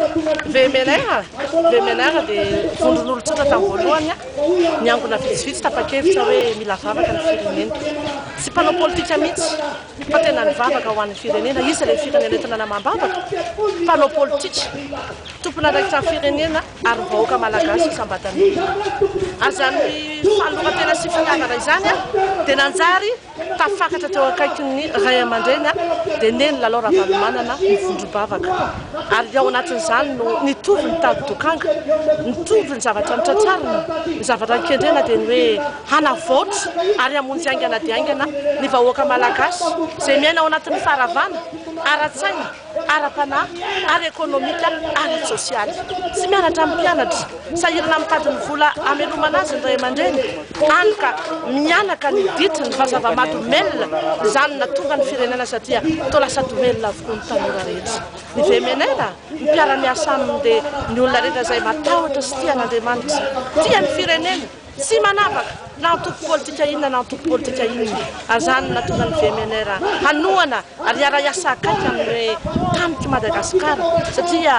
VMLR, VMLR dia vondron'olon-tsotra tamin'ny voalohany niangona vitsivitsy tapa-kevitra hoe mila vavaka ny firenena. Tsy mpanao politika mihitsy fa tena nivavaka ho an'ny firenena. Iza ilay firenena eto nanamam-bavaka? Mpanao politika, tompon'andraikitra ny firenena ary ny vahoaka malagasy isam-batan'olona. Azan'ny fahaloran-tena sy fitiavana izany dia nanjary. Tafakatra teo akaikin'ny ray aman-dreny dia neny Lalao Ravalomanana ny vondrom-bavaka ary ao anatin'izany no nitovy ny tady dokanga, nitovy ny zavatra notratrarina, ny zavatra nikendrena dia ny hoe hanavaotra ary hamonjy haingana dia haingana ny vahoaka malagasy izay miaina ao anatin'ny faharavana ara-tsaina. ara-panahy, ara-ekonomika, ara-tsosialy. Tsy mianatra amin'ny mpianatra, sahirana mitady ny vola hamelomana azy ny ray aman-dreny, hany ka mihanaka ny ditiny fa zava-mahadomelina izany nahatonga ny firenena satria toa lasa domelina avokoa ny tanora rehetra. Ny VMNR, ny mpiara-miasa aminy dia ny olona rehetra izay matahotra sy tia an'Andriamanitra, tia ny fireneny, Tsy manavaka na antoko politika inona na antoko politika inona ary izany no nahatonga ny VMNR hanohana ary hiara-hiasa akaiky amin'ny hoe tanik'i Madagasikara satria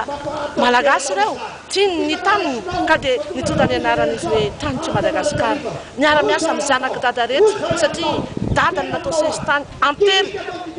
Malagasy ireo, tiany ny taniny ka dia nitondra ny anarana izy hoe tanik'i Madagasikara. Miara-miasa amin'ny zanak'i Dada rehetra satria Dada no natao sesitany an-telo,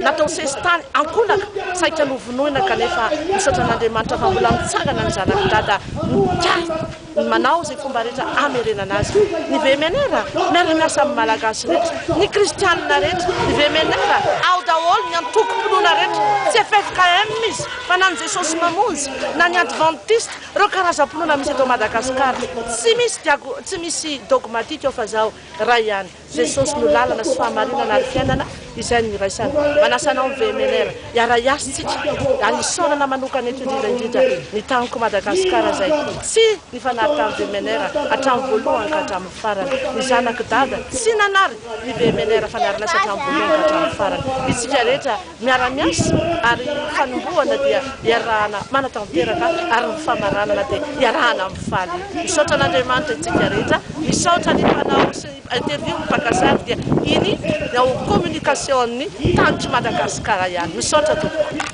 natao sesitany an-kolaka saika novonoina kanefa misaotra an'Andriamanitra fa mbola mitsangana ny zanak'i Dada mikasa. ny manao izay fomba rehetra hamerenana azy ny VMNR miara miasa amin'ny Malagasy rehetra ny kristianina rehetra ny VMNR ao daholo ny antoko mpinoana rehetra tsy ffkm izy fa na ny Jesosy mamonjy na ny adventiste ireo karazam-pinoana misy eto Madagascar tsy misy tsy misy dogmatique ao fa zaho iray ihany Jesosy no lalana sy fahamarinana ary fiainana izay no iraisana. Manasa anao ny VMNR hiara-hiasa tsika ary hisaorana manokana eto indrindra indrindra ny Taniko Madagascar izay tsy nifanary tamin'ny VMNR hatramin'ny voalohany ka hatramin'ny farany. Ny zanak'i Dada tsy nanary ny VMNR fa nary lasa hatramin'ny voalohany ka hatramin'ny farany. Itsika rehetra Miara-miasa ary ny fanombohana dia iarahana manatanteraka ary ny famaranana dia iarahana mifaly. Misaotra an'Andriamanitra isika rehetra, misaotra ny mpanao sy ny interview ny mpaka sary dia iny ny ao communication ny tanitr'i Madagasikara ihany. Misaotra tompoko.